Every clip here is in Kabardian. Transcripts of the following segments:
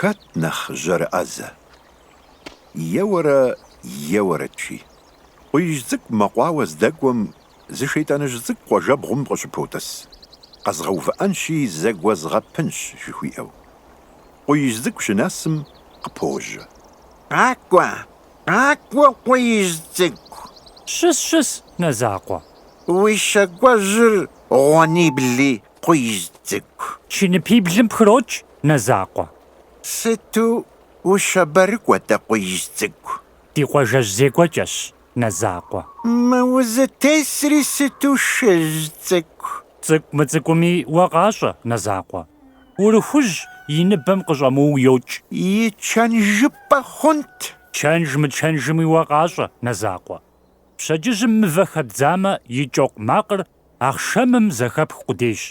Хэт нэхъ жьэрыӏэзэ? Еуэрэ еуэрэт, жи. Къуиижь цӏыкӏу мэкъуауэ здэкӏуэм зы шейтӏаныжь цӏыкӏу къуажэбгъум къыщыпотӏыс, къэзгъэувыӏэнщи зэгуэзгъэпынщ жыхуиӏэу. Къуиижь цӏыкӏу щынэсым, къыпожьэ. Къакӏуэ, Къакӏуэ, къуиижь цӏыкӏу! Щыс, щыс, Нэзакъуэ! Уи щӏакӏуэжьыр гъуэнибли, къуиижь цӏыкӏу! Чыныпиблым пхрокӏ, Нэзакъуэ! Сыту ущабэрыкӏуэ дэ, къуиижь цӏыкӏу! Ди къуажэжь зекӏуэкӏэщ, Нэзакъуэ! Мы узытесри сыту шыжь цӏыкӏу! Цӏыкӏу мыцӏыкӏуми уэ къащӏэ, Нэзакъуэ! Урыхужь и ныбэм къыщӏэмыуу йокӏ. И чэнжыпӏэ хъунт. Чэнж мычэнжми уэ къащӏэ, Нэзакъуэ. Пщэдджыжьым мывэ хэбдзамэ, и кӏэкъу макъыр ахъшэмым зэхэпх къудейщ.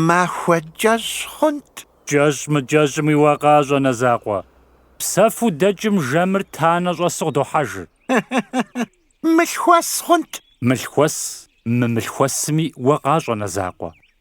Махуэ кӏэщӏ хъунт. Кӏэщӏ мыкӏэщӏми уэ къащӏэ, Нэзакъуэ. Псэфу дэкӏым жэмыр танэ щӏэсу къыдохьэжыр. Мылъхуэс хъунт. Мылъхуэс мымылъхуэсми уэ къащӏэ, Нэзакъуэ.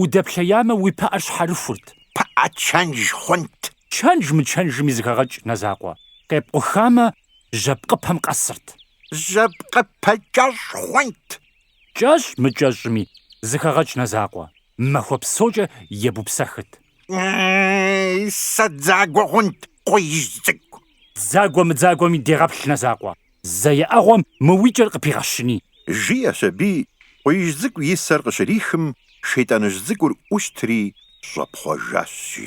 Удэплъеямэ, уи пыӏэр щхьэрыхурт. Пыӏэ чэнж хъунт. Чэнж-мычэнжми зыхэгъэкӏ Нэзакъуэ. Къепкъухамэ, жьэпкъыпэм къэсырт. Жьэпкъыпэ кӏэщӏ хъунт. Кӏэщӏ-мыкӏэщӏми зыхэгъэкӏ Нэзакъуэ. Махуэ псокӏэ ебупсэхырт. Сэ дзагуэ хъунт, къуиижь цӏыкӏу. Дзагуэ-мыдзагуэми дегъэплъ Нэзакъуэ. Зэ еӏэгъуэм мы уи кӏэр къыпигъэщыни! Жиӏэщ аби, къуиижь цӏыкӏу и сэр къыщрихым, шейтӏаныжь цӏыкӏур ӏущтри щӏэпхъуэжащ, жи.